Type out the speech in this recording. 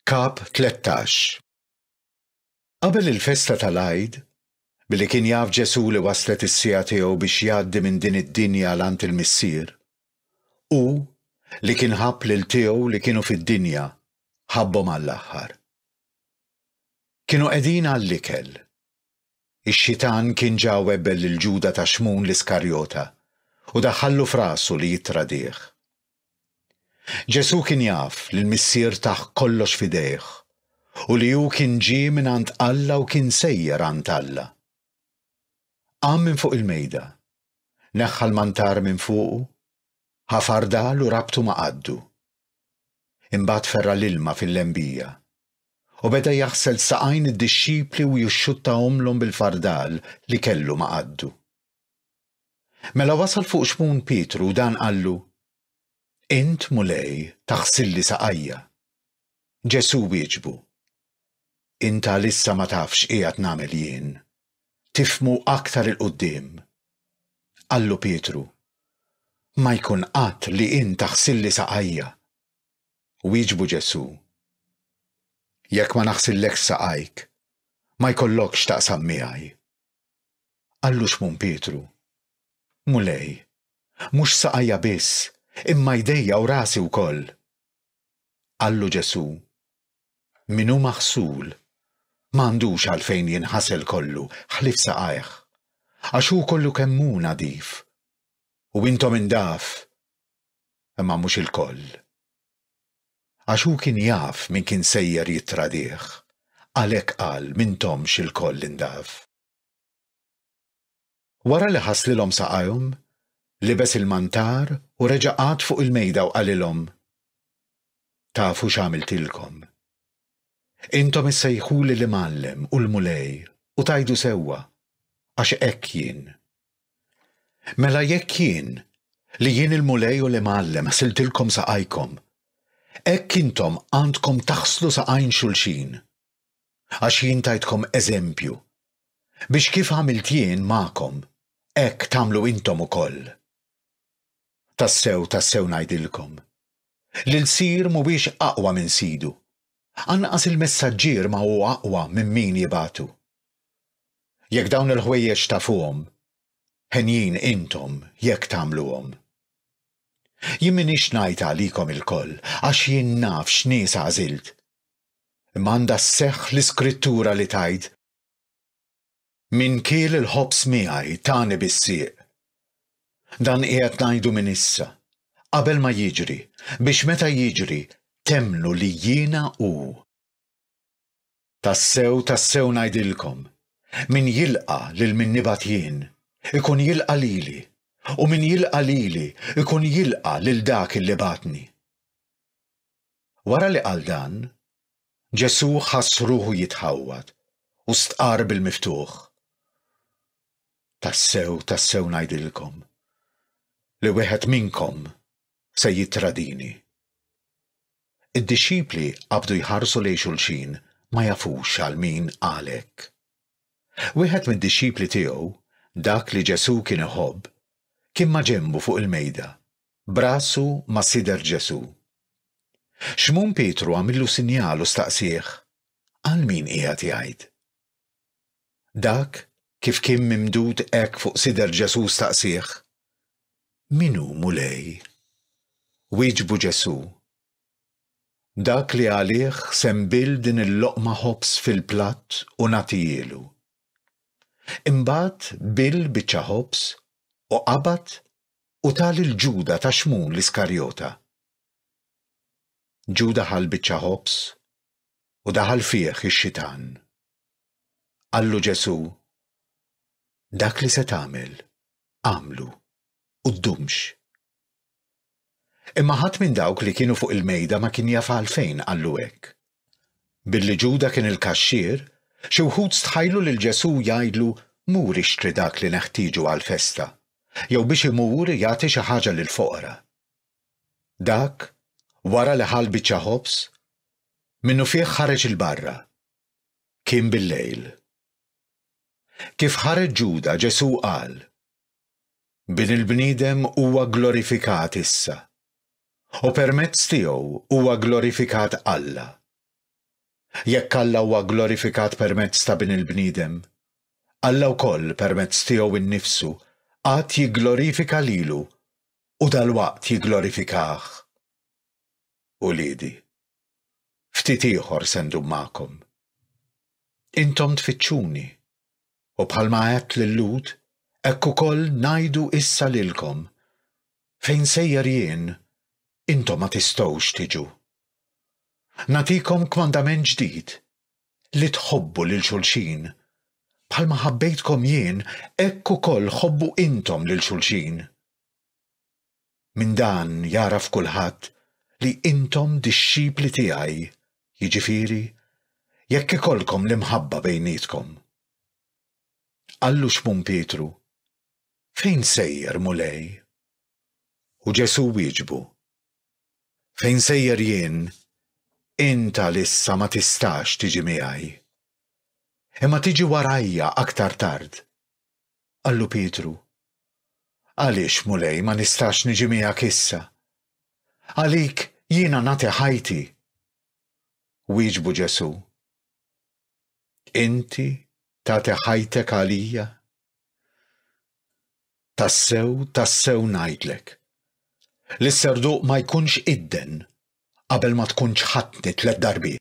Kap 13 Qabel il-festa tal-Għid, billi kien jaf Ġesù li waslet is-siegħa tiegħu biex jgħaddi minn din id-dinja għal għand il-Missier, hu li kien ħabb lil tiegħu li kienu fid-dinja, ħabbhom għall-aħħar. Kienu qegħdin għall-ikel. Ix-Xitan kien ġa webbel lil Ġuda ta' Xmun l-Iskarjota u daħħallu f'rasu li jittradih. Ġesù kien jaf li l-Missier tah kollox f'idejh u li hu kien ġie mingħand Alla u kien sejjer għand Alla. Qam minn fuq il-mejda, neħħa l-mantar minn fuqu, ħafar dal u rabtu ma' qaddu. Imbagħad ferra' l-ilma fil-lembija, u beda jaħsel saqajn id-dixxipli u jixxuttahomlhom bil-fardal li kellu ma' qaddu. Mela wasal fuq Xmun Pietru u dan qallu, Int, Mulej, taħsilli saqajja. Ġesù wieġbu, Int għalissa ma tafx x'qiegħed nagħmel jien, tifhmu aktar 'il quddiem. Qallu Pietru, Ma jkun qatt li int taħsilli saqajja. Wieġbu Ġesù, Jekk ma naħsillekx saqajk, ma jkollokx x'taqsam miegħi. Qallu Xmun Pietru, Mulej, mhux saqajja biss, imma jdejja u rasi wkoll. Qallu Ġesù, Min hu maħsul ma għandux għalfejn jinħasel kollu ħlief saqajh, għax hu kollu kemm hu nadif. U intom indaf, imma mhux ilkoll. Għax hu kien jaf min kien sejjer jittradih, għalhekk qal m'intomx ilkoll indaf. Wara li ħaslilhom saqajhom, libes il-mantar u reġa' qagħad fuq il-mejda u qalilhom, Tafu x'għamiltilkom? Intom issejħuli l-Imgħallem u l-Mulej u tgħidu sewwa, għax hekk jien. Mela jekk jien, li jien il-Mulej u l-Imgħallem ħsiltilkom saqajkom, hekk intom għandkom taħslu saqajn xulxin. Għax jien tajtkom eżempju, biex kif għamilt jien magħkom, hekk tagħmlu intom ukoll. Tassew, tassew ngħidilkom, li lsir mhuwiex aqwa minn sidu, anqas il-messaġġier ma hu aqwa minn min jibgħatu. Jekk dawn il-ħwejjeġ tafuhom, henjin intom jekk tagħmluhom. Jien m'iniex ngħid għalikom ilkoll, għax jien naf x'nies għażilt, Imma għandha sseħħ l-Iskrittura li tgħid, Min kiel il-ħobż miegħi, tani bis-sieq. Dan qiegħed ngħidu minn issa, qabel ma jiġri, biex meta jiġri, temmnu li jiena hu. Tassew, tassew ngħidilkom, Min jilqa' lil min nibgħat jien, ikun jilqa' lili, u min jilqa' lili, ikun jilqa' lil dak li bagħatni. Wara li qal dan, Ġesù ħass ruħu jitħawwad u stqarr bil-miftuħ, Tassew, tassew ngħidilkom, li wieħed minnkom se jittradini. Id-dixxipli qabdu jħarsu lejn xulxin ma jafux għal min qal hekk. Wieħed mid-dixxipli tiegħu, dak li Ġesù kien iħobb, kien maġenbu fuq il-mejda B'rasu ma' sider Ġesù. Xmun Pietru għamillu sinjal u staqsieh, Għal min qiegħed jgħid? Dak, kif kien mimdud hekk fuq sider Ġesù staqsieh, Min hu, Mulej? Wieġbu Ġesù, Dak li għalih se nbill din il-loqma ħobż fil-platt u nagħtihielu. Imbagħad bill biċċa ħobż u qabad u ta lil Ġuda ta' Xmun l-Iskarjota. Ġuda ħa l-biċċa ħobż u daħal fih ix-Xitan. Qallu Ġesù, Dak li se tagħmel, agħmlu, u ddumx. Imma ħadd minn dawk li kienu fuq il-mejda ma kien jaf għalfejn qallu hekk. Billi Ġuda kien il-kaxxier, xi wħud stħajlu lil Ġesù jgħidlu mur ixtri dak li neħtieġu għall-festa, jew biex imur jagħti xi ħaġa lill-foqra. Dak, wara li ħa l-biċċa ħobż, minnufih ħareġ 'il barra. Kien bil-lejl. Kif ħareġ Ġuda, Ġesù qal, Bin il-bniedem huwa glorifikat issa, u permezz tiegħu huwa glorifikat Alla. Jekk Alla huwa glorifikat permezz ta' Bin il-bniedem, Alla wkoll permezz tiegħu nnifsu għad jigglorifika lilu u dalwaqt jigglorifikah. Uliedi. Ftit ieħor se ndum magħkom. Intom tfittxuni, u bħalma għedt lil-Lhud, hekk ukoll ngħidu issa lilkom, Fejn sejjer jien, intom ma tistgħux tiġu. Nagħtikom kmandament ġdid, li tħobbu lil xulxin, bħalma ħabbejtkom jien, hekk ukoll ħobbu intom lil xulxin. Minn dan jagħraf kulħadd li intom dixxipli tiegħi, jiġifieri, jekk ikollkom l-imħabba bejnietkom. Qallu Xmun Pietru, Fejn sejjer, Mulej? U Ġesù wieġbu, Fejn sejjer jien, int għalissa ma tistax tiġi miegħi. Imma tiġi warajja aktar tard. Qallu Pietru, Għaliex, Mulej, ma nistax niġi miegħek issa? Għalik jiena nagħti ħajti. Wieġbu Ġesù, Inti tagħti ħajtek għalija? Tassew, tassew ngħidlek. Li s-serduq ma jkunx idden qabel ma tkunx ħatni tliet darbiet.